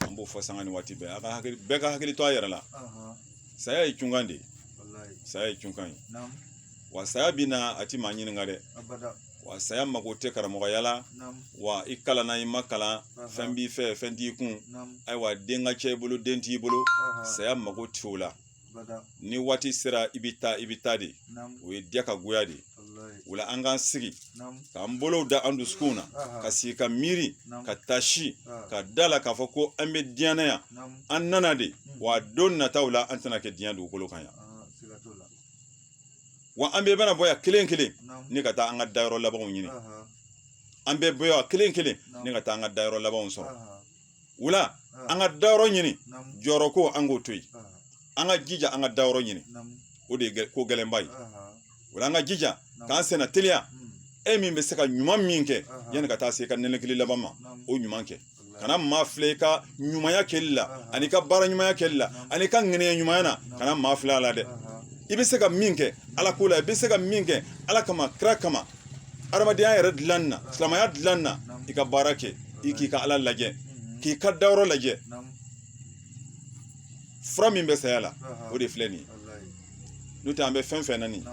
an b'o fɔ sanga ni waati bɛɛ a ka hakili bɛɛ ka hakili to a yɛrɛ la saya ye cunkan de ye saya ye cunkan ye wa saya bɛ na a ti maa ɲininka dɛ wa saya mago tɛ karamɔgɔya la wa i kalanna i ma kalan fɛn b'i fɛ fɛn t'i kun ayiwa den ka ca i bolo den t'i bolo saya mago tɛ o la ni waati sera i bɛ taa i bɛ taa de o ye diya ka goya de o la an k'an sigi k'an bolow da an dusukunw na ka sigi ka miiri ka taasi ka da la k'a fɔ ko an bɛ diɲɛ na yan an nana de wa don nataw la an tɛna kɛ diɲɛ dugukolo kan yan wa an bɛɛ bɛna bɔ yan kelen kelen ne ka taa an ka dayɔrɔ labanw ɲini an bɛ bɔ yan kelen kelen ne ka taa an ka dayɔrɔ labanw sɔrɔ o la ah. an ka dayɔrɔ ɲini jɔyɔrɔ ko an k'o to yen ah. an ka jija an ka dayɔrɔ ɲini o de ye ko gɛlɛnba ye o la an ka jija k'an senna teliya hmm. e min bɛ se ka ɲuman min kɛ yanni ka taa se ka nɛnɛkili laban ma o ɲuman kɛ kana maa filɛ i ka ɲumanya kɛli la ani ka baara ɲumanya kɛli la ani ka ŋaniya ɲumanya na kana maa filɛ a la dɛ i bɛ se ka min kɛ ala ko la i bɛ se ka min kɛ ala kama kira kama adamadenya yɛrɛ dilan na silamɛya dilan na i ka baara kɛ i k'i ka ala lajɛ k'i ka dayɔrɔ lajɛ fura min bɛ saya la o de filɛ nin ye n'o tɛ an bɛ fɛn fɛn na nin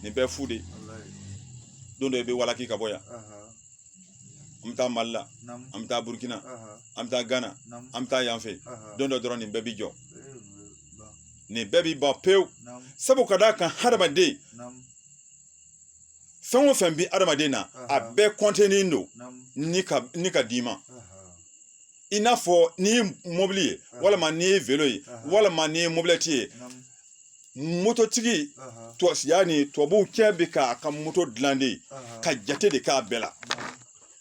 nin bɛɛ fu de don dɔ i bɛ walaki ka bɔ yan an bɛ taa mali la an bɛ taa burukina an bɛ taa gana an bɛ taa yan fɛ don dɔ dɔrɔn nin bɛɛ bi jɔ nin bɛɛ bi ban pewu sabu ka d'a kan hadamaden fɛn o fɛn bɛ adamaden na a bɛɛ kɔntenen don ni ka d'i ma i n'a fɔ n'i ye mɔbili ye walima n'i ye velo ye walima n'i ye mobilɛti ye mototigi yani tubabucɛ bɛ k'a ka moto dilan de ka jate de k'a bɛɛ la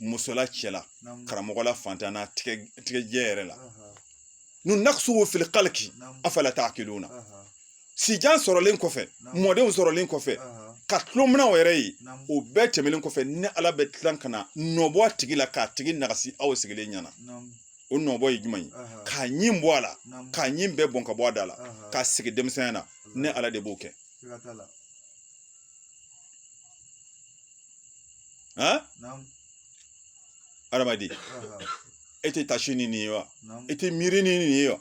musola cɛla karamɔgɔ la fantan na tigɛjɛ yɛrɛ la nu naksuhu fil khalqi afala ta'qiluna sijan sɔrɔlen kɔfɛ mɔdenw sɔrɔlen kɔfɛ ka tulominaw yɛrɛ ye o bɛɛ tɛmɛnen kɔfɛ ne ala bɛ tilan ka na dɔ bɔ a tigi la k'a tigi nagasi aw sigilen ɲɛna o dɔbɔ ye jumɛn ye k'a ɲin bɔ a la k'a ɲin bɛɛ bɔn ka bɔ a da la k'a sigi denmisɛnya na ne ala de b'o kɛ han adamaden e tɛ tasi ni nin ye wa e tɛ miiri ni nin ye wa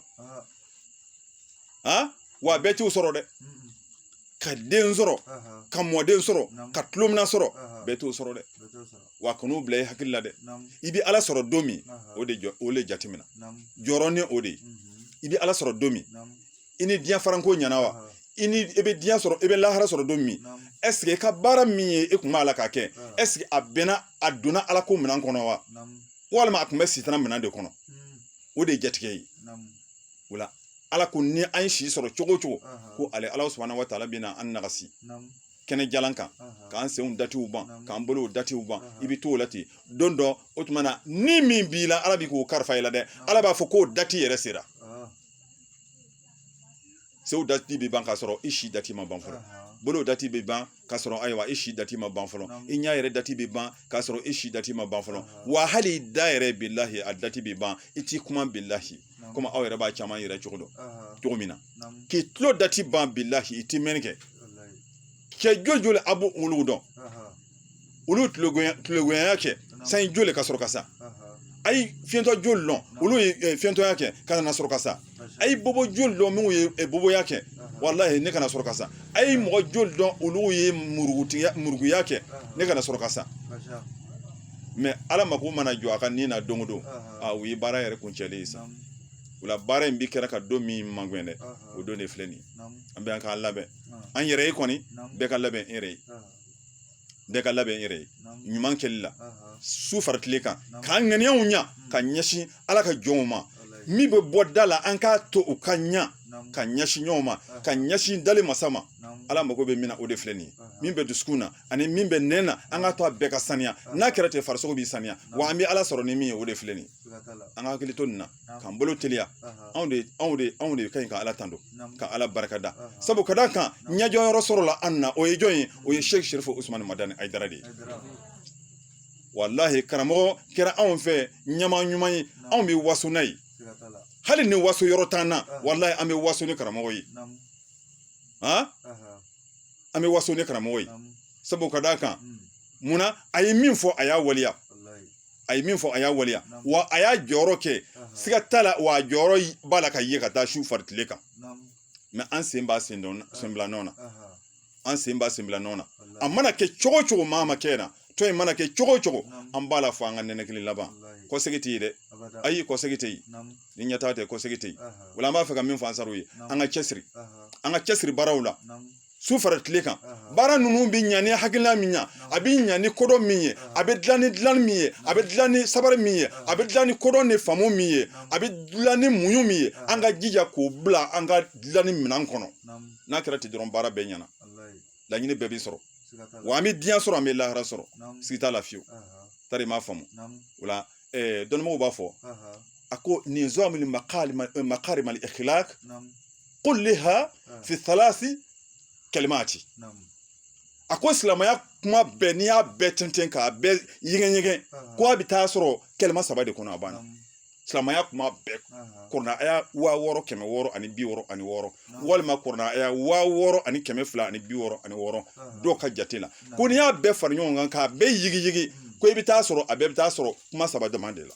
han wa bɛɛ t'o sɔrɔ dɛ ka den sɔrɔ ka mɔden sɔrɔ ka tulomina sɔrɔ bɛɛ t'o sɔrɔ dɛ wa kan'o bila i hakili la dɛ i bɛ ala sɔrɔ don min o de jatemina jɔrɔ ni o de ye i bɛ ala sɔrɔ don min i ni diɲɛ faranko ɲɛna wa i ni i bɛ diɲɛ sɔrɔ i bɛ lahara sɔrɔ don min ɛseke i ka baara min ye e kun b'a la k'a kɛ ɛseke a bɛnna a donna ala ko minɛn kɔnɔ wa walima a tun bɛ sitana minɛn de kɔnɔ o de ye jatigɛ ye o la ala ko ni an ye si sɔrɔ cogo cogo ko ale ala subahana wa taala bɛ na an nagasi kɛnɛjalan kan k'an senw datiw ban k'an bolow datiw ban i bɛ t'o la ten don dɔ o tuma na ni min b'i la ala b'i k'o karifa i la dɛ ala b'a fɔ k'o dati yɛrɛ sera senw dati bɛ ban k'a sɔrɔ i si dati ma ban fɔlɔ bolo dati bɛ ban k'a sɔrɔ ayiwa i si dati ma ban fɔlɔ i ɲɛ yɛrɛ dati bɛ ban k'a sɔrɔ i si dati ma ban fɔlɔ wa hali da yɛrɛ bilahi a dati bɛ ban i tɛ kuma bilahi komi aw yɛrɛ b'a caman yɛrɛ dɔn cogo min na k'i tulo dati ban bilahi i tɛ mɛnni kɛ cɛ joli a b'olu dɔn olu tulogoya kɛ sanji joli ka sɔrɔ ka sa a ye fiɲɛtɔ joli dɔn olu ye fiɲɛtɔya kɛ ka na sɔrɔ ka sa a ye bobo joli dɔn minnu ye boboya kɛ walahi ne ka na sɔrɔ ka sa a ye mɔgɔ joli dɔn olu ye murugutigiya muruguya kɛ ne ka na sɔrɔ ka sa mɛ ala mako mana jɔ a ka ni na don o don o ye baara yɛrɛ kuncɛlen ye sa o la baara in bɛɛ kɛra ka don min magɛn dɛ o don de filɛ nin ye an bɛɛ an k'an labɛn an yɛrɛ ye kɔni bɛɛ ka labɛn i yɛrɛ ye bɛɛ ka labɛn i yɛrɛ ye ɲuman kɛli la su fara tile kan k'an ŋaniyaw ɲa ka ɲɛsin ala ka jɔnw ma min bɛ bɔ da la an k'a to u ka ɲa ka ɲɛsin ɲɔgɔn ma ka ɲɛsin dali masa ma ala mago bɛ min na o de filɛ nin ye min bɛ dusukun na ani min bɛ nɛn na an k'a to a bɛɛ ka saniya n'a kɛra ten farisogo bɛ saniya wa an bɛ ala sɔrɔ ni min ye o de filɛ nin ye an ka hakili to nin na k'an bolo teliya anw de anw de anw de ka ɲi ka ala tando ka ala barika da sabu ka d'a kan ɲɛjɔyɔrɔ sɔrɔla an na o ye jɔn ye o ye sheikh sherifu usumani madani ayidara de ye walahi karamɔgɔ kɛra anw fɛ ɲɛmaa ɲuman ye anw bɛ waso n'a ye hali ni waso yɔrɔ t'an na walahi an bɛ waso ni karamɔgɔ ye an bɛ waso ni karamɔgɔ ye sabu ka d'a kan munna a ye min fɔ a y'a waleya a ye min fɔ a y'a waleya wa a y'a jɔyɔrɔ kɛ siga t'a la wa a jɔyɔrɔ b'a la ka ye ka taa su fara tile kan mɛ an sen b'a senbila nɔ na an sen b'a senbila nɔ na a mana kɛ cogo cogo maa ma kɛ na tɔn in mana kɛ cogo cogo an b'a la fɔ an ka ninakili laban kɔsegi tɛ yen dɛ ayi kɔsegi tɛ yen ni ɲɛtaa tɛ kɔsegi tɛ yen o la an b'a fɛ ka min fɔ ansaru ye an ka cɛsiri an ka cɛsiri baaraw la su fara tile kan baara ninnu bɛ ɲa ni hakilina min ye a bɛ ɲa ni kodɔn min ye a bɛ dilan ni dilan min ye a bɛ dilan ni sabari min ye a bɛ dilan ni kodɔn ni faamu min ye a bɛ dilan ni muɲu min ye an ka jija k'o bila an ka dilanni minɛn kɔnɔ n'a kɛra ten dɔrɔn baara bɛɛ ɲɛna laɲini bɛɛ bɛ sɔrɔ wa an bɛ diɲɛ sɔrɔ an bɛ lahara sɔrɔ siga t'a la fiyewu tari m'a faamu o la dɔnnibagaw b'a fɔ a ko nizam min makarim al kulliha ah. fi thalasi kalimati a ko silamɛya kuma bɛɛ n'i y'a bɛɛ tɛntɛn k'a bɛɛ ɲɛgɛn ɲɛgɛn ah. ko a bɛ taa sɔrɔ kɛlɛma saba de kɔnɔ a banna silamɛya kuma bɛɛ ah. kɔrɔna aya waa wɔɔrɔ kɛmɛ wɔɔrɔ ani bi wɔɔrɔ ani wɔɔrɔ walima kɔrɔna aya waa wɔɔrɔ ani kɛmɛ fila ani bi wɔɔrɔ ani wɔɔrɔ dɔw ka jate la ko n'i y'a bɛɛ fara ɲɔgɔn kan k'a bɛɛ yigiyigi hmm. ko i bɛ taa sɔrɔ a bɛɛ bɛ taa sɔrɔ kuma saba dama de la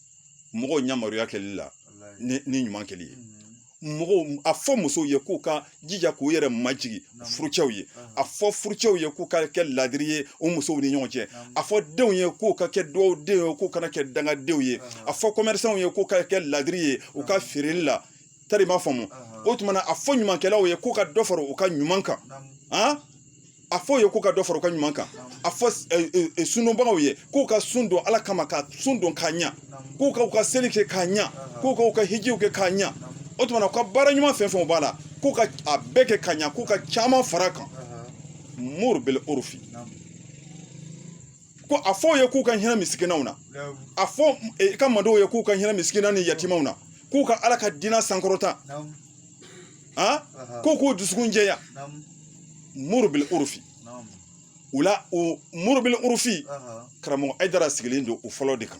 mɔgɔw yamaruya kɛli la ni ɲuman kɛli ye mɔgɔw a fɔ musow ye k'u ka jija k'u yɛrɛ majigin furucɛw ye a fɔ furucɛw ye k'u ka kɛ ladiri ye u musow ni ɲɔgɔn cɛ a fɔ denw ye k'u ka kɛ duwadenw ye k'u kana kɛ dangadenw ye a fɔ kɔmɛrisanw ye k'u ka kɛ ladiri ye u ka feereli la tari i m'a faamu o tuma na a fɔ ɲumankɛlaw ye k'u ka dɔ fara u ka ɲuman kan a fɔ u ye k'u ka dɔ fara u ka ɲuman kan a fɔ sundonbagaw ye k'u ka sun don ala kama ka sun don k'a ɲa k'u ka u ka seli kɛ k'a ɲa k'u ka u ka hijiw kɛ k'a ɲa o tuma na u ka baara ɲuman fɛn o fɛn b'a la k'u ka a bɛɛ kɛ ka ɲa k'u ka caman fara a kan muru bil urufi ko a fɔ u ye k'u ka hinɛ misikinanw na a fɔ eh, i ka mantɔn ye k'u ka hinɛ misikinanw ni yatimaw na k'u ka ala ka diinɛ sankɔrɔta ah? k'u k'u dusukun jɛya muru bil urufi o la o muru bil urufi karamɔgɔ ayidara sigilen don o fɔlɔ de kan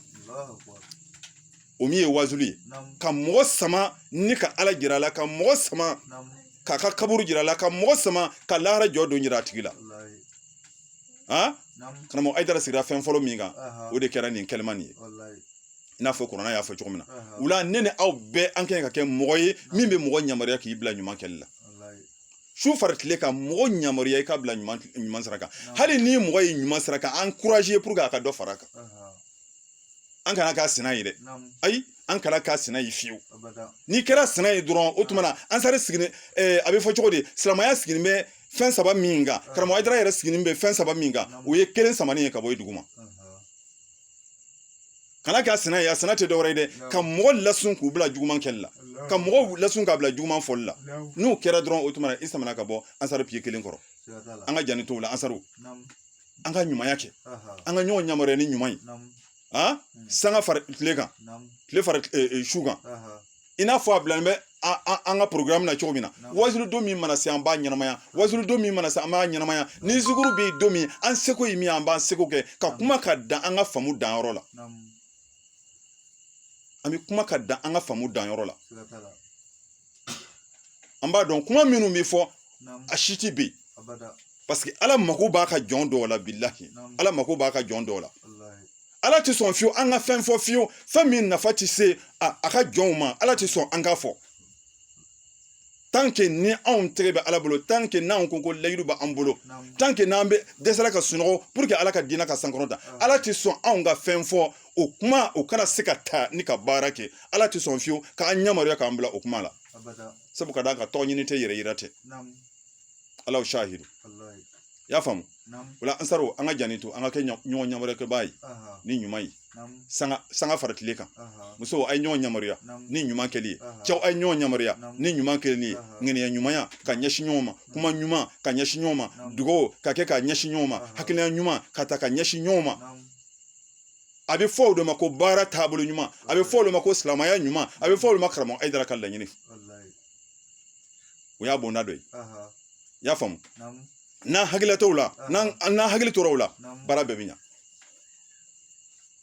o min ye wazuli ye ka mɔgɔ sama ni ka ala jira a la ka mɔgɔ sama k'a ka kaburu jira a la ka mɔgɔ sama ka lahara jɔ don jira a tigi la a karamɔgɔ ayidara sigira fɛn fɔlɔ min kan o de kɛra nin kɛlɛma nin ye i n'a fɔ kɔrɔna y'a fɔ cogo min na o la ne ni aw bɛɛ an ka kan ka kɛ mɔgɔ ye min bɛ mɔgɔ yamaruya k'i bila ɲuman kɛli la su fara tile ka mɔgɔ yamaruya i ka bila ɲuman sira kan hali ni mɔgɔ ye ɲuman sira kan ankuraze puru a ka dɔ fara a kan an kana k'a sina ye dɛ ayi an kana k'a sina ye fiyewu n'i kɛra a sina ye dɔrɔn o tuma na ansari sigilen a bɛ fɔ cogo di silamɛya sigilen bɛ fɛn saba min kan karamɔgɔ ayidara yɛrɛ sigilen bɛ fɛn saba min kan o ye kelen samanen ye ka bɔ i dugu ma kana k'a sina ye a sina tɛ dɔwɛrɛ ye dɛ ka mɔgɔ lasun k'u bila juguman kɛli la ka mɔgɔw lasun k'a bila juguman fɔli la n'o kɛra dɔrɔn o tuma na i samana ka bɔ ansari piye kelen kɔrɔ an k'an janto o la ansaru an ka ɲumanya kɛ an ka ɲɔgɔn yamaruya ni ɲuman ye a sanga fara tile kan tile fara su kan i n'a fɔ a bilalen bɛ an ka porogaramu na cogo min na wazuli don min mana se an b'a ɲɛnamaya wazuli don min mana se an b'a ɲɛnamaya ni zikuru bɛ yen don min an seko ye min an b'an seko kɛ ka kuma ka dan an ka faamu danyɔrɔ la an bɛ kuma ka dan an ka faamu danyɔrɔ la an b'a dɔn kuma minnu bɛ fɔ a si tɛ ben parce que ala mako b'a ka jɔn dɔw la bilahi ala mako b'a ka jɔn dɔw la ala tɛ sɔn fiyewu an ka fɛn fɔ fiyewu fɛn min nafa tɛ se a ka jɔnw ma ala tɛ sɔn an k'a fɔ tant que ni anw tɛgɛ bɛ ala bolo tant que n'anw ko ko layidu b'an bolo tant que n'an bɛ dɛsɛra ka sunɔgɔ pour que ala ka diinɛ ka sankɔrɔta ala tɛ sɔn anw ka fɛn fɔ o kuma o kana se ka taa ni ka baara kɛ ala tɛ sɔn fiyewu k'an yamaruya k'an bila o kuma la sabu ka d'a kan tɔgɔ ɲini tɛ yɛrɛ yira tɛ alahu sahidu i y'a faamu o la ansaraw an ka janni to an ka kɛ ɲɔgɔn yamaruya ye ni ɲuman ye sanga sanga fara tile kan musow a ye ɲɔgɔn yamaruya ni ɲuman kɛli ye cɛw a ye ɲɔgɔn yamaruya ni ɲuman kɛli ye ŋaniya ɲumanya ka ɲɛsin ɲɔgɔn ma kuma ɲuman ka ɲɛsin ɲɔgɔn ma dugawu ka kɛ ka ɲɛsin ɲɔgɔn ma hakilina ɲuman ka ta ka ɲɛsin ɲɔgɔn ma a bɛ fɔ o de ma ko baara taabolo ɲuman a bɛ fɔ o de ma ko silamɛya ɲuman a bɛ fɔ o de ma karamɔgɔ ayidara ka laɲini o y'a bonda dɔ ye i y'a faamu n'an hakili t'o la n'an hakili tora o la baara bɛɛ bɛ ɲa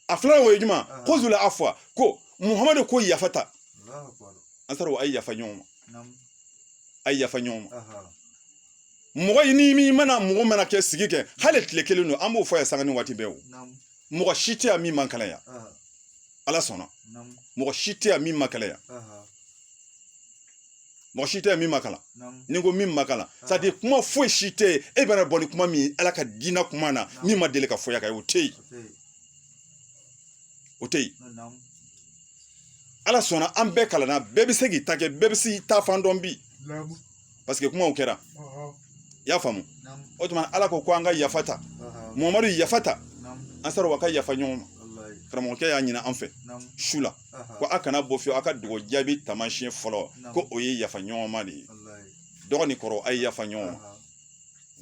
a filanan o ye jumɛn khuzul afwa ko muhamadu ko yafa ta ansaraw a ye yafa ɲɔgɔn ma a ye yafa ɲɔgɔn ma mɔgɔ i ni min mana mɔgɔ mana kɛ sigi kɛ hali tile kelen don an b'o fɔ yan sanga ni waati bɛɛ o mɔgɔ si tɛ yan min ma kalan yan ala sɔnna mɔgɔ si tɛ yan min ma kalan yan mɔgɔ si tɛ yan min ma kalan ni ko min ma kalan c'est à dire kuma foyi si tɛ yen e bɛna bɔ ni kuma min ala ka diinɛ kuma na min ma deli ka fɔ yan ka ye o tɛ yen o tɛ yen ala sɔnna an bɛɛ kalanna bɛɛ bɛ se k'i ta kɛ bɛɛ bɛ se k'i ta fan dɔn bi parce que kumaw kɛra i y'a faamu o tuma ala ko ko an ka yafa ta muhamadu yafa ta ansaraw a ka yafa ɲɔgɔn ma karamɔgɔkɛ y'a ɲini an fɛ su la ko a kana bɔ fiyewu a ka dugawu jaabi taamasiyɛn fɔlɔ ko o ye yafa ɲɔgɔn ma de ye dɔgɔ ni kɔrɔ a ye yafa ɲɔgɔn ma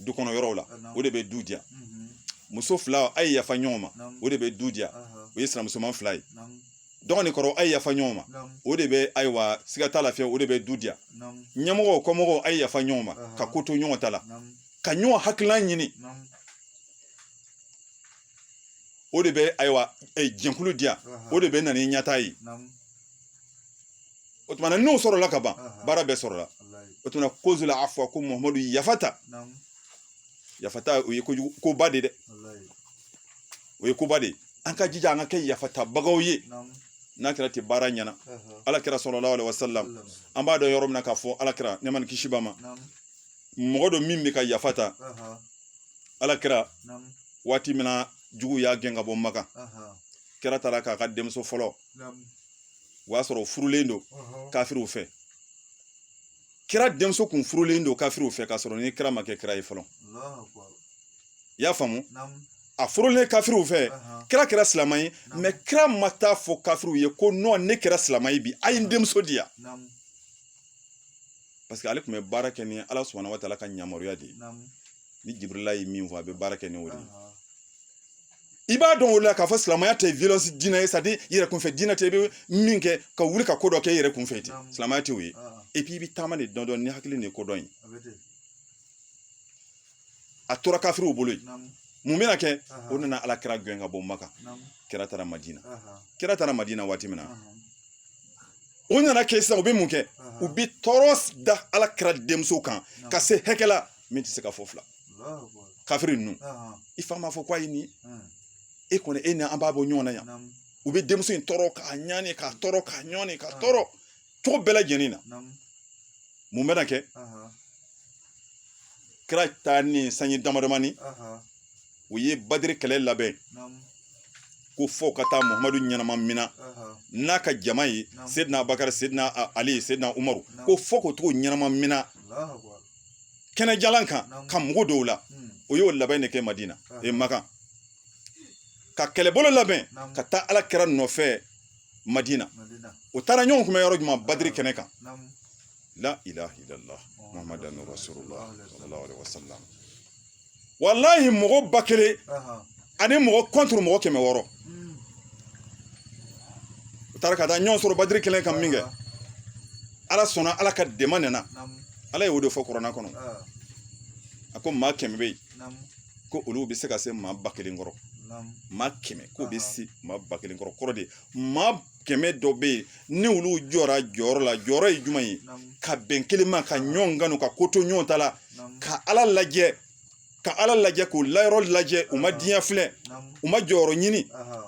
du kɔnɔ yɔrɔw la o de bɛ du diya muso fila a ye yafa ɲɔgɔn ma o de bɛ du diya o ye sinamusoman fila ye dɔgɔ ni kɔrɔ a ye yafa ɲɔgɔn ma o de bɛ ayiwa siga t'a la fiyewu o de bɛ du diya ɲɛmɔgɔw kɔmɔgɔw a ye yafa ɲɔgɔn ma ka ko to ɲɔgɔn ta la ka ɲɔgɔn hakilina ɲini o de bɛ ayiwa eh, jɛkulu diya o de bɛ na ni ɲɛtaa ye o tuma na n'o sɔrɔla ka ban baara bɛɛ sɔrɔla o tuma na khuzul afwa ko muhamadu yafa ta yafa ta o ye kojugu koba de dɛ o ye koba de ye an ka jija an ka kɛ yafatabagaw ye n'a kɛra ten baara ɲɛna ala kira sallallahu alaihi wasallam an b'a dɔn yɔrɔ min na k'a fɔ ala kira nɛɛma ni kisi b'a ma mɔgɔ don min bɛ ka yafa ta ala kira waati min na jugu y'a gɛn ka bɔ maka kira taara k'a ka denmuso fɔlɔ o y'a sɔrɔ furulen don kafiriw fɛ kira denmuso kun furulen don kafiriw fɛ k'a sɔrɔ ni kira ma kɛ kira ye fɔlɔ i y'a faamu a furulen kafiriw fɛ kira kɛra silamɛ ye mais kira ma taa fɔ kafiriw ye ko non ne kɛra silamɛ ye bi a ye n denmuso di yan parce que ale tun bɛ baara kɛ ni ala subhanahu wa taala ka yamaruya de ye ni jibirila ye min fɔ a bɛ baara kɛ ni o de ye i b'a dɔn o la k'a fɔ silamɛya tɛ violence diinɛ ye c'est-à-dire i yɛrɛ kunfɛ diinɛ tɛ i bɛ min kɛ ka wuli ka ko dɔ kɛ i yɛrɛ kunfɛ ten silamɛya tɛ o ye et puis i bɛ taama de dɔɔnin dɔɔnin ni hakili ni kodɔn ye a tora kafiriw bolo yen mun bɛna kɛ u nana ala kira gɛn ka bɔ maka kira taara madina kira taara madina waati min na u nana kɛ sisan u bɛ mun kɛ u bɛ tɔɔrɔ da ala kira denmuso kan ka se hakɛ la min tɛ se ka fɔ fila kafiri ninnu i fa m'a fɔ ko a ye nin ye e kɔni e ni an b'a bɔ ɲɔgɔn na yan u bɛ denmuso in tɔɔrɔ k'a ɲani k'a tɔɔrɔ k'a ɲani k'a tɔɔrɔ cogo bɛɛ lajɛlen na mun bɛna kɛ kira taalen sanji damadamani u ye badiri kɛlɛ labɛn ko fo u ka taa muhamadu ɲɛnama mina n'a ka jama ye sedina bakari sedina ali sedina umaru ko fo ka taga u ɲɛnama mina kɛnɛjalan kan ka mugu don u la u y'o labɛn de kɛ madina e makan ka kɛlɛbolo labɛn ka taa ala kira nɔfɛ madina u taara ɲɔgɔn kunbɛn yɔrɔ jumɛn badiri kɛnɛ kan la ilaha illallah muhammadan rasulullah sallallahu alaihi wasallam walahi mɔgɔ ba kelen ani mɔgɔ contre mɔgɔ kɛmɛ wɔɔrɔ u taara ka taa ɲɔgɔn sɔrɔ badiri kɛnɛ kan min kɛ ala sɔnna ala ka dɛmɛ nana ala ye o de fɔ kurana kɔnɔ a ko maa kɛmɛ bɛ yen ko olu bɛ se ka se maa ba kelen kɔrɔ maa kɛmɛ k'o bɛ se maa ba kelen kɔrɔ kɔrɔ de maa kɛmɛ dɔ bɛ yen ni olu jɔra jɔyɔrɔ la jɔyɔrɔ ye jumɛn ye ka bɛn kelen ma ka ɲɔgɔn kanu ka ko to ɲɔgɔn ta la ka ala lajɛ ka ala lajɛ k'ala yɔrɔ lajɛ u ma diɲɛ filɛ u ma jɔyɔrɔ ɲini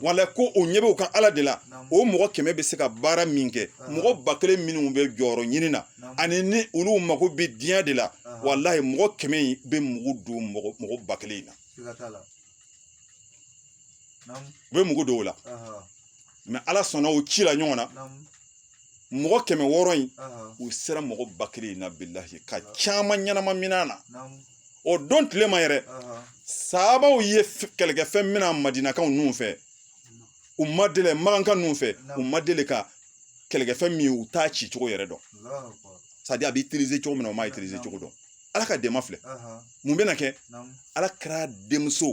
wala ko u ɲɛ b'u ka ala de la o mɔgɔ kɛmɛ bɛ se ka baara min kɛ mɔgɔ ba kelen minnu bɛ jɔyɔrɔ ɲini na ani ni olu mago bɛ diɲɛ de la walayi mɔgɔ kɛmɛ in bɛ mugu don mɔgɔ ba kelen in na u bɛ mugu don o la mɛ ala sɔnna u cila ɲɔgɔn na mɔgɔ kɛmɛ wɔɔrɔ in u sera mɔgɔ ba kelen in na bilahi ka caman ɲɛnama mina na o don tile ma yɛrɛ sahabaw ye kɛlɛkɛfɛn mina madinakaw ninnu fɛ u ma deli makankaw ninnu fɛ u ma deli ka kɛlɛkɛfɛn min u t'a ci cogo yɛrɛ dɔn sadi a bɛ itilize cogo min na u m'a itilize cogo dɔn ala ka dɛmɛ filɛ mun bɛna kɛ ala kira denmuso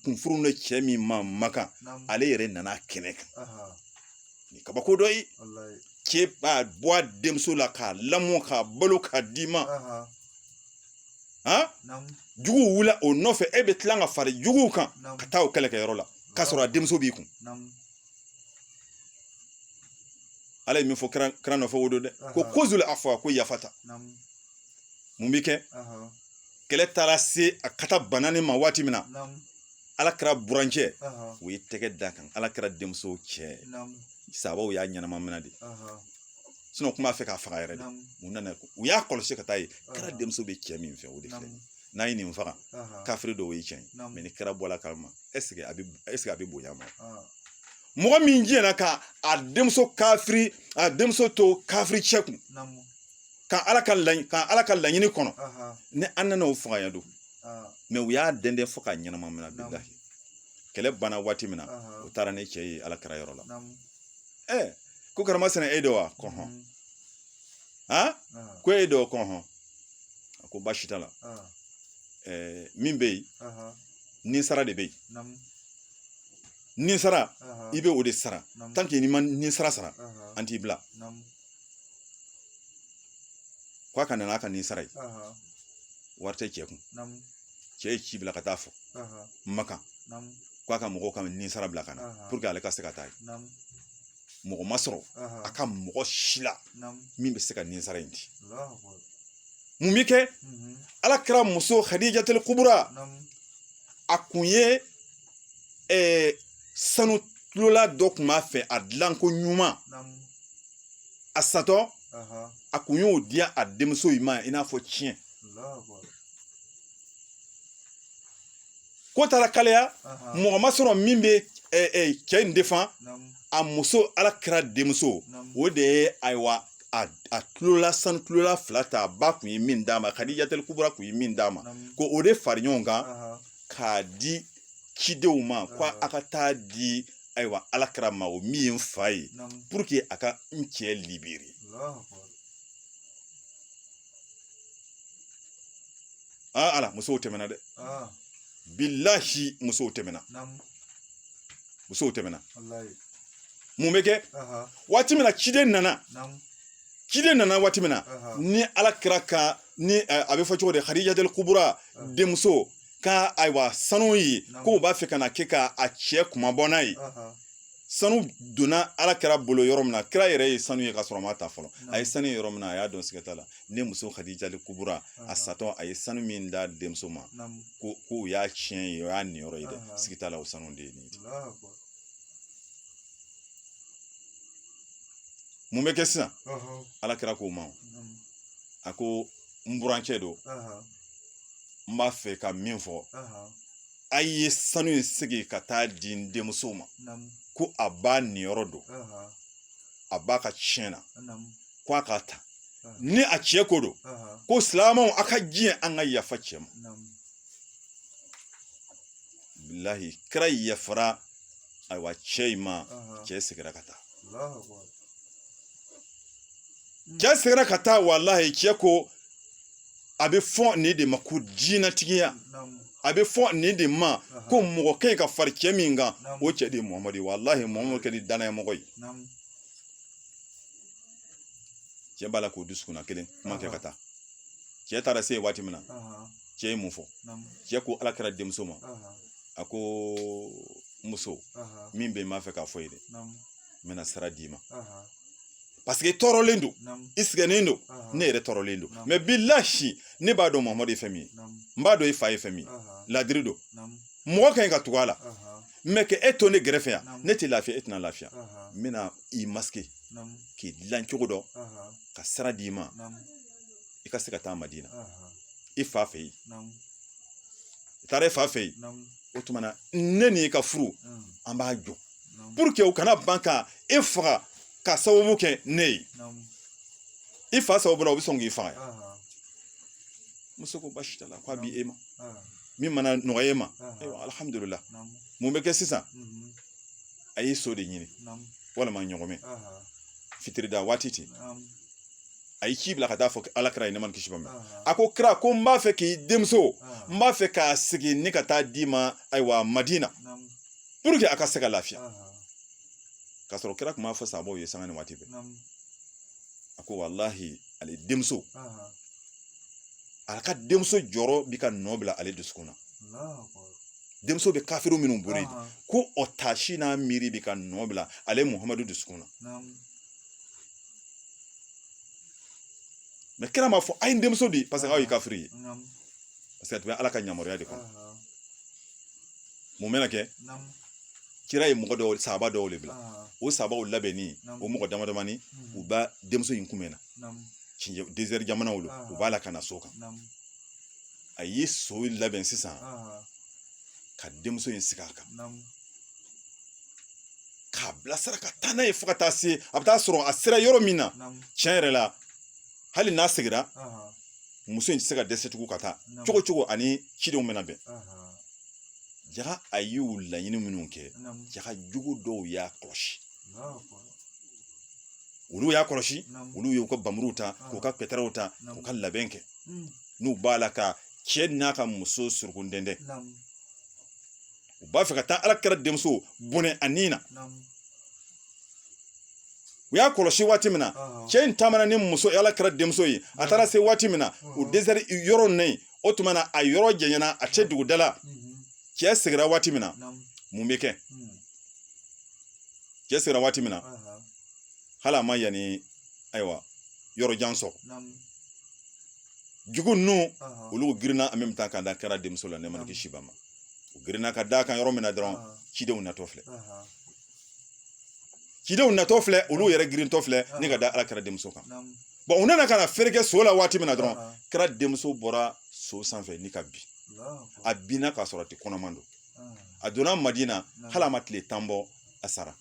kun furulen cɛ min ma makan ale yɛrɛ nana kɛnɛ kan nin kabako dɔ ye cɛ b'a bɔ a denmuso la k'a lamɔ k'a balo k'a d'i ma juguw wulila o nɔfɛ e bɛ tila ka fara juguw kan ka taa o kɛlɛkɛyɔrɔ la k'a sɔrɔ a denmuso b'i kun ala ye min fɔ kira nɔfɛ o don dɛ ko kozul afwa ko yafa ta mun bɛ kɛ kɛlɛ taara se a ka taa banni ma waati min na ala kira burancɛ u ye tɛgɛ d'a kan ala kira denmuso cɛ sahabaw y'a ɲɛnama minɛ de sinɔn kun b'a fɛ k'a faga yɛrɛ de u nana u y'a kɔlɔsi ka t'a ye kira denmuso bɛ cɛ min fɛ o de filɛ n'an ye nin faga kafiri dɔw ye cɛn mɛ ni kira bɔl'a kalama ɛseke a bɛ ɛseke a bɛ bonya ma mɔgɔ min diɲɛna ka a denmuso kafiri a denmuso to kafiri cɛ kun ka ala ka laɲini kɔnɔ ni an nana o faga yan don mɛ u y'a dɛndɛn fo k'a ɲɛnama mina bilahi kɛlɛ banna waati min na u taara ni cɛ ye ala kira yɔrɔ la ɛ ko karama sɛnɛ e don wa ko ɔnhɔn han ko e don ko ɔnhɔn a ko baasi t'a la min bɛ yen ninsara de bɛ yen ninsara i bɛ o de sara tanke n'i ma ninsara sara an t'i bila ko a ka na n'a ka ninsara ye wari tɛ cɛ kun cɛ ye ci bila ka t'a fɔ makan ko a ka mɔgɔw ka ninsara bila ka na puruke ale ka se ka taa ye mɔgɔ ma sɔrɔ a ka mɔgɔ si la min bɛ se ka ninsara in di mun bɛ kɛ ala kira muso hadijatul kubura a kun ye sanu tulola dɔ kun b'a fɛ a dilanko ɲuman a satɔ a kun y'o di a denmuso in ma i n'a fɔ tiɲɛ ko taara kalaya mɔgɔ ma sɔrɔ min bɛ cɛ in defan a muso ala kira denmuso o de ye ayiwa a tulola sanu tulola fila ta a ba kun ye min d'a ma kadijatul kubura kun ye min d'a ma ko o de fara ɲɔgɔn kan k'a di cidenw ma ko a ka taa di ayiwa ala kira ma o min ye n fa ye pour que a ka n cɛ libérer aa ala musow tɛmɛna dɛ bilahi musow tɛmɛna musow tɛmɛna mun bɛ kɛ waati min na ciden nana ciden nana waati min na ni ala kira ka ni a bɛ fɔ cogo di hadijatul kubura denmuso ka ayiwa sanu ye ko u b'a fɛ ka na kɛ ka a cɛ kunmabɔ n'a ye sanu donna ala kira bolo yɔrɔ min na kira yɛrɛ ye sanu ye ka sɔrɔ a m'a ta fɔlɔ a ye sanu ye yɔrɔ min na a y'a dɔn siga t'a la ne muso hadijatul kubura a satɔ a ye sanu min d'a denmuso ma ko ko o y'a tiɲɛ ye o y'a niyɔrɔ ye dɛ siga t'a la o sanu de ye nin ye mun bɛ kɛ sisan ala kira k'o ma a ko n burancɛ don n b'a fɛ ka min fɔ a ye sanu in segin ka taa di n denmuso ma ko a ba niyɔrɔ don a ba ka tiɲɛ na ko a k'a ta ni a cɛ ko don ko silamɛw a ka diɲɛ an ka yafa cɛ ma bilahi kira yafara ayiwa cɛ in ma cɛ seginna ka taa cɛ seginna ka taa walahi cɛ ko a bɛ fɔ nin de ma ko diinɛtigiya a bɛ fɔ nin de ma ko mɔgɔ ka ɲi ka fara cɛ min kan o cɛ de ye muhamadu ye walahi muhamadu kɛra danayamɔgɔ ye cɛ b'a la k'o dusukun na kelen kuma kɛ ka taa cɛ taara se yen waati min na cɛ ye mun fɔ cɛ ko ala kira denmuso ma a ko muso min bɛ n b'a fɛ k'a fɔ i ye dɛ n bɛna sira d'i ma parce que i tɔɔrɔlen don i sɛgɛnnen don ne yɛrɛ tɔɔrɔlen don mais bilahi ne b'a dɔn mamadu ye fɛn min ye n b'a dɔn i fa ye fɛn min ye ladiri don mɔgɔ ka ɲi ka tugu a la mais ka e to ne gɛrɛfɛ yan ne tɛ lafiya e tɛna lafiya n bɛna i masquer k'i dilan cogo dɔ ka sira d'i ma i ka se ka taa madina i fa fɛ yen i taara i fa fɛ yen o tuma na ne ni i ka furu an b'a jɔ pour que u kana ban ka e faga ka sababu kɛ ne ye i fa sababu la u bɛ sɔn k'i faga muso ko basi t'a la k'a bɛ e ma min mana nɔgɔya e ma ayiwa alihamudulila mun bɛ kɛ sisan a ye so de ɲini walima ɲɔgɔmɛ fitirida waati ten a ye ci bila ka taa fɔ ala kira ye nɛɛma ni kisi b'a ma a ko kira ko n b'a fɛ k'i denmuso n b'a fɛ k'a sigi ni ka taa d'i ma ayiwa madina pour que a ka se ka lafiya k'a sɔrɔ kira tun b'a fɔ sahabaw ye sanga ni waati bɛɛ a ko walahi ale denmuso a ka denmuso jɔrɔ bi ka nɔ bila ale dusukun na denmuso bɛ kafiru minnu bolo ko o taasi n'a miiri bi ka nɔ bila ale muhamadu dusukun na mais kira m'a fɔ a ye n denmuso di parce que aw ye kafiri ye parce que a tun bɛ ala ka yamaruya de kɔnɔ mun bɛna kɛ kira ye mɔgɔ dɔw sahaba dɔw de bila o sahabaw labɛnni o mɔgɔ damadamani u b'a denmuso in kunbɛn na désert jamanaw don u b'a la ka na so kan a ye so labɛn sisan ka denmuso in sigi a kan k'a bilasira ka taa n'a ye fo ka taa se a bɛ taa sɔrɔ a sera yɔrɔ min na tiɲɛ yɛrɛ la hali n'a segira muso in tɛ se ka dɛsɛ tugun ka taa cogo cogo ani cidenw bɛna bɛn jaga a y'u laɲini minnu kɛ jaga jugu dɔw y'a kɔlɔsi olu y'a kɔlɔsi olu y'u ka bamuruw ta k'u ka pɛtɛrɛw ta k'u ka labɛn kɛ n'u b'a la ka cɛ n'a ka muso suruku dɛndɛn u b'a fɛ ka taa ala kira denmuso bɔnɛ a ni na u y'a kɔlɔsi waati min na cɛ in taamana ni muso ala kira denmuso ye a taara se waati min na o désert yɔrɔ in o tuma na a yɔrɔ janyana a cɛ dugu da la cɛ segira waati min na mun bɛ kɛ cɛ segira waati min na hali a ma yanni ayiwa yɔrɔ jan sɔrɔ jugu ninnu olu girinna en même temps ka da kira denmuso la nɛɛma kisi b'a ma u girinna ka d'a kan yɔrɔ min na dɔrɔn cidenw natɔ filɛ cidenw natɔ filɛ olu yɛrɛ girintɔ filɛ ni ka da ala kira denmuso kan bon u nana ka na fɛɛrɛ kɛ so la waati min na dɔrɔn kira denmuso bɔra so sanfɛ ni ka bin a binna k'a sɔrɔ a tun kɔnɔman don a donna madina hali a ma tile tan bɔ a sara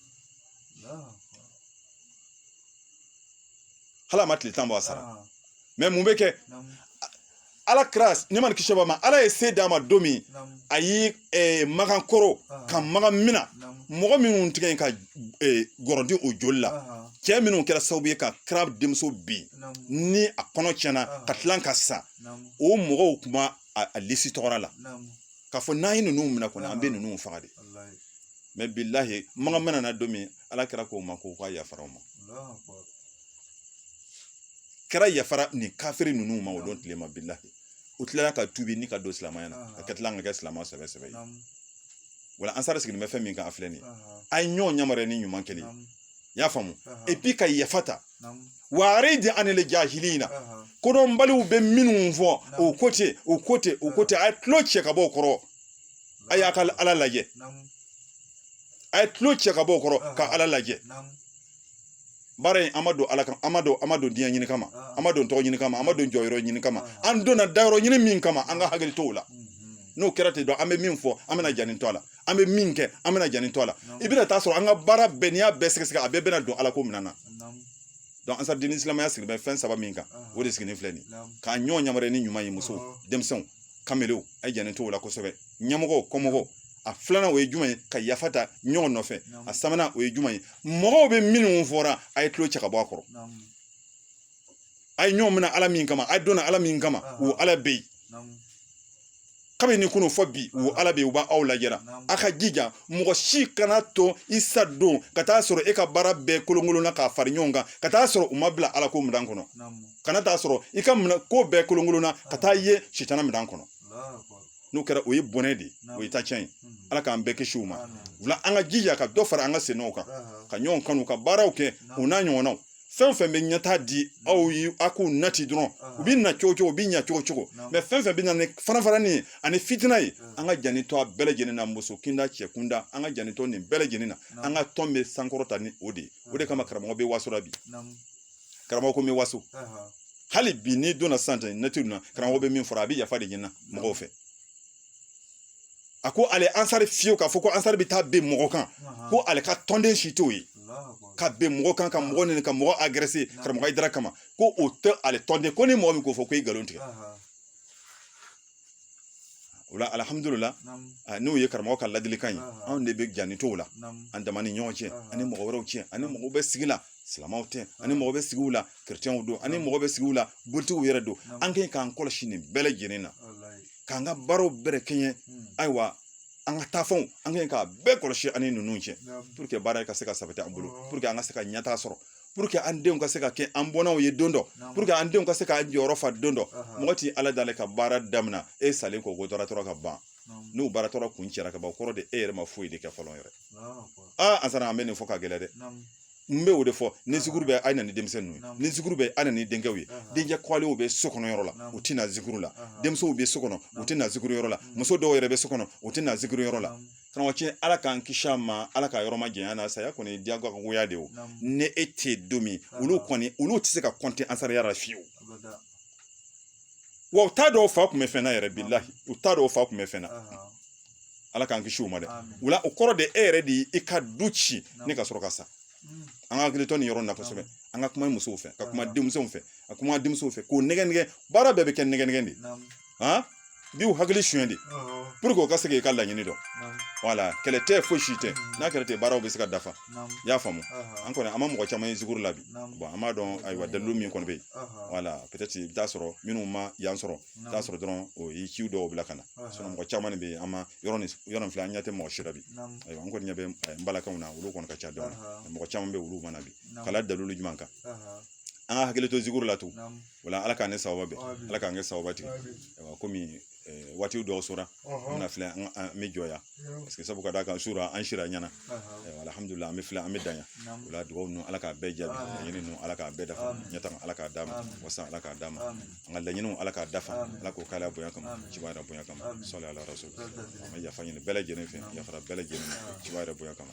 hali a ma tile tan bɔ a sara mais mun bɛ kɛ ala kira nɛɛma ni kisi b'a ma ala ye se d'a ma don min a ye eh, makan koro ah. ka makan mina mɔgɔ minnu tigɛ yen ka eh, gɔrɔnti o joli la ah. cɛ minnu kɛra sababu ye ka kira denmuso bin ni a kɔnɔ tiɲɛna ah. ka tila ka sa o mɔgɔw tun b'a a lisi tɔgɔra la k'a fɔ n'an ye ninnu minɛ kɔni an bɛ ninnu faga de mais bilahi makan minana don min ala kira k'o ma k'o ka yafara o ma kira yafara nin kafiri ninnu ma o don tile ma bilahi u tilala ka tubi ni ka don silamɛya na ka ka tila ka kɛ silamɛ sɛbɛ sɛbɛ ye wala ansari sigilen bɛ fɛn min kan a filɛ nin ye a ye ɲɔgɔn yamaruya ni ɲuman kɛli i y'a faamu epi ka yafa ta wa aridi anil jahilina kodɔnbaliw bɛ minnu fɔ o ko ten o ko ten o ko ten a ye tulo cɛ ka bɔ o kɔrɔ a y'a ka ala lajɛ a ye tulo cɛ ka bɔ o kɔrɔ ka ala lajɛ baara in an ma don ala kama an ma don an ma don diɲɛ ɲini kama ah. an ma don tɔgɔ ɲini kama an ma don jɔyɔrɔ ɲini kama ah. an donna dayɔrɔ ɲini min kama an ka hakili t'o la mm-hmm. n'o kɛra ten dɔrɔn an bɛ min fɔ an bɛna janni to a la an bɛ min kɛ an bɛna janni to a la i bɛna taa sɔrɔ an ka baara bɛɛ n'i y'a bɛɛ sɛgɛsɛgɛ a bɛɛ bɛna don ala ko minɛn na donc ansari dini silamɛya sigi bɛ fɛn saba min kan ah. o de sigilen filɛ nin k'a ɲɔgɔn yamaruya ni ɲuman ye muso denmisɛnw kamelew a ye janni to o la kosɛbɛ ɲɛmɔgɔ kɔmɔgɔ a filanan o ye jumɛn ye ka yafa ta ɲɔgɔn nɔfɛ a sabanan o ye jumɛn ye mɔgɔw bɛ minnu fɔra a ye tulo cɛ ka bɔ a kɔrɔ a ye ɲɔgɔn minɛ ala min kama a donna ala min kama o ala bɛ yen kabini kunun fo bi o ala bɛ yen o b'aw lajɛra a ka jija mɔgɔ si kana to i sa don ka taa sɔrɔ e ka baara bɛɛ kolonkolonna k'a fara ɲɔgɔn kan ka taa sɔrɔ u ma bila ala ko minɛn kɔnɔ kana taa sɔrɔ i ka ko bɛɛ kolonkolonna ka taa ye sitana minɛn kɔnɔ n'o kɛra o ye bɔnɛ de ye o ye tacɛn ye ala k'an bɛɛ kisi o ma wala an ka jija ka dɔ fara an ka sennɔw kan ka ɲɔgɔn kanu ka baaraw kɛ u n'a ɲɔgɔnnaw fɛn fɛn bɛ ɲɛtaa di aw ye a k'u nati dɔrɔn u bɛ na cogo cogo u bɛ ɲa cogo cogo mɛ fɛn fɛn bɛ na ni farafarani ye ani fitina ye an ka janni to a bɛɛ lajɛlen na muso kunda cɛ kunda an ka janni to nin bɛɛ lajɛlen na an ka tɔn bɛ sankɔrɔta ni o de ye o de kama karamɔgɔ bɛ waso la bi karamɔgɔ ko n bɛ waso hali bi n'i donna sisan ɛntɛrinɛti na karamɔgɔ bɛ min fɔra a bɛ yafa de ɲini mɔgɔw fɛ a ko ale ansari fiyewu k'a fɔ ko ansari bɛ taa bin mɔgɔ kan ko ale ka tɔnden si t'o ye ka bin mɔgɔ kan ka mɔgɔ nɛni ka mɔgɔ agrese karamɔgɔ hayidara kama ko o tɛ ale tɔnden ko ni mɔgɔ min k'o fɔ ko i nkalon tigɛ o la alihamudulila n'o ye karamɔgɔ ka ladilikan ye anw de bɛ janni t'o la an dama ni ɲɔgɔn cɛ ani mɔgɔ wɛrɛw cɛ ani mɔgɔw bɛ sigi la silamɛw tɛ ani mɔgɔ bɛ sigiw la kerecɛnw don ani mɔgɔ bɛ sigiw la bolitigiw yɛrɛ don an kan k'an kɔlɔsi nin bɛɛ lajɛlen na k'an ka baaraw bɛrɛ kɛɲɛ ayiwa an ka taafanw an kan k'a bɛɛ kɔlɔsi ani ninnu cɛ puruke baara ka se ka sabati an bolo puruke an ka se ka ɲɛtaa sɔrɔ an denw ka se ka kɛ an bɔnnaw ye don dɔ pour que an denw ka se k'an jɔyɔrɔ fa don dɔ mɔgɔ tɛ ala deli ka baara daminɛ e salen kɔ ko baara tɔ ka ban n'o baara tɔ kuncɛra ka ban o kɔrɔ de e yɛrɛ ma foyi de kɛ fɔlɔ yɛrɛ aa ansari an bɛ nin fɔ ka gɛlɛn dɛ n bɛ o de fɔ ni zikuru bɛ a na ni denmisɛnninw ye ni zikuru bɛ a na ni denkɛw ye denkɛ kɔlenw bɛ so kɔnɔ yɔrɔ la u tɛ na zikuru la denmusow bɛ so kɔnɔ u tɛ na zikuru yɔrɔ la muso dɔw yɛrɛ bɛ so kɔnɔ u tɛ na zikuru yɔrɔ la karamɔgɔcɛ ala k'an kisi a ma ala k'a yɔrɔ majanya an na saya kɔni diyagoya de o ni e tɛ yen don min olu kɔni olu tɛ se ka kɔnte ansariya la fiyewu wa u t'a dɔn fa tun bɛ fɛn na yɛrɛ bilahi u t'a dɔn fa tun bɛ fɛn na ala k'an kisi o ma dɛ o la o kɔrɔ de e yɛrɛ de i ka du ci ne ka sɔrɔ ka sa an ka hakili to nin yɔrɔ in na kosɛbɛ an ka kuma musow fɛ ka kuma denmisɛnw fɛ ka kuma denmusow fɛ k'u nɛgɛn nɛgɛn baara bɛɛ bɛ kɛ nɛgɛn nɛgɛn de an b'u hakili suɲɛ de pour que u ka se k'i ka laɲini dɔn wala kɛlɛ tɛ foyi si tɛ n'a kɛlɛ tɛ baaraw bɛ se ka dafa i y'a faamu an kɔni an ma mɔgɔ caman ye zikuru la bi bon an b'a dɔn ayiwa dalilu min kɔni bɛ yen wala peut-être i bɛ taa sɔrɔ minnu ma yan sɔrɔ i bɛ taa sɔrɔ dɔrɔn o ye ciw dɔw bila ka na sinon mɔgɔ caman de bɛ yen an ma yɔrɔ nin yɔrɔ nin filɛ an ɲɛ tɛ mɔgɔ si la bi ayiwa an kɔni ɲɛ bɛ n balakaw na olu kɔni ka ca dɔɔni mɔgɔ caman bɛ olu ma na bi k'a la dalilu jumɛn kan an ka hakili to zikuru la tun o la ala k'an ni sababu bɛn ala k'an kɛ sababu tigi kɔmi waati dɔw sɔrɔ an bɛna filɛ an bɛ jɔ yan parce que sabu ka d'a kan surɔ an sira ɲɛna alihamudulila an bɛ filɛ an bɛ dan yan o la dugawu ninnu ala k'a bɛɛ jaabi laɲini ninnu ala k'a bɛɛ dafa ɲɛtaa ala k'a d'an ma wasa ala k'a d'an ma an ka laɲiniw ala k'a dafa ala k'o k'ala bonya kama ciba yɛrɛ bonya kama sɔli ala rasul an bɛ yafa ɲini bɛɛ lajɛlen fɛ yafara bɛɛ lajɛlen ciba yɛrɛ bonya kama